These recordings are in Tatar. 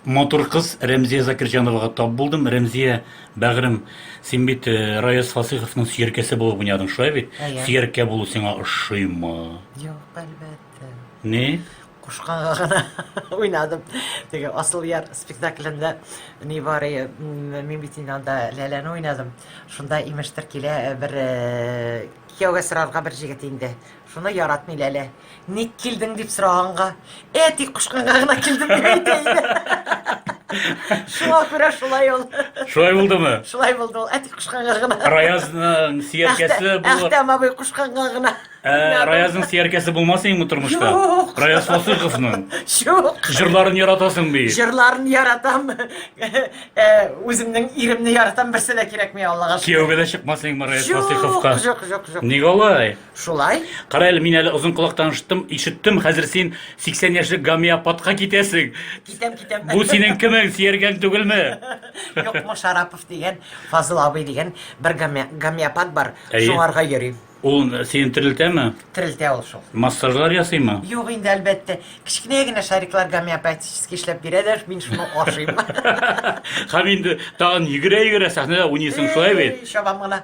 матур кыз Рәмзия Закирҗановага тап булдым. Рәмзия, бәгырем, син бит э, Раяз Фасыйховның сөяркәсе булып уйнадың, шулай бит? Әйе. Сөяркә булу сиңа ошыймы? Юк, әлбәттә. Ни? Кушканга гына уйнадым. Теге Асыл яр спектаклендә ни бар, э, мин бит инде анда Ләләне уйнадым. Шунда имештер килә э, бер кияүгә сорарга бер җегет инде. Шуны яратмый Ләлә. Ник килдең дип сораганга, әти кушканга гына килдем дип әйтә иде. Шуңа күрә шулай ул. Шулай булдымы? Шулай булды ул. Әти кушканга гына. Раязның сияркәсе булып. Әхтәм абый кушканга гына. Ә, Раязның сияркәсе булмас инде тормышта. Юк. Раяз Фасыйховның. Юк. Җырларын яратасың би. Җырларын яратам. Э, үземнең иремне яратам, берсе дә кирәкми Аллага. Кияүгә дә чыкмас инде Раяз Фасыйховка. Юк, юк, юк. Ник алай? Шулай? Кара әле, мин әле озын колак таныштым, ишеттем, хәзер син 80 яшьлек гомеопатка китәсең. Китәм, китәм. Бу синең кемең, Сиергән түгелме? Юк, бу Шарапов дигән, Фазыл абый дигән бер гомеопат бар, шуңарга йөрим. Ул сине терелтәме? Терелтә ул шул. Массажлар ясыймы? Юк инде, әлбәттә. Кечкенә генә шариклар гомеопатически эшләп бирәләр, мин шуны ашыйм. Һәм инде тагын йөгерә-йөгерә сәхнәдә уйныйсың, шулай бит? Чабам гына.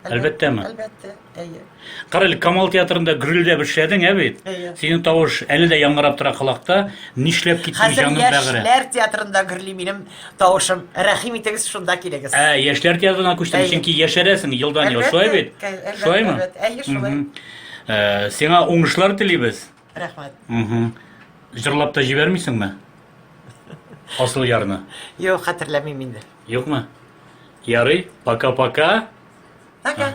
Әлбәттә ме? Әлбәттә, әйе. Кара әле, Камал театрында гөрелдәп эшләдең, ә бит? Әйе. Синең тавыш әле дә яңгырап тора колакта. Нишләп киттең Хәзер җаным бәгырем? яшьләр театрында гөрли минем тавышым. Рәхим итегез, шунда килегез. Ә, яшьләр театрына күчтең, Әйе. чөнки яшәрәсең елдан ел, Әлбәттә, шулай бит? кә- әлбәттә, Шулаймы? әлбәттә. Әйе, шулай. Мгм. Э, Сиңа уңышлар телибез. Рәхмәт. Мхм. Җырлап та җибәрмисеңме? Асыл ярны. Юк, хәтерләмим инде. Юкмы? Ярый, пока-пока. Пока.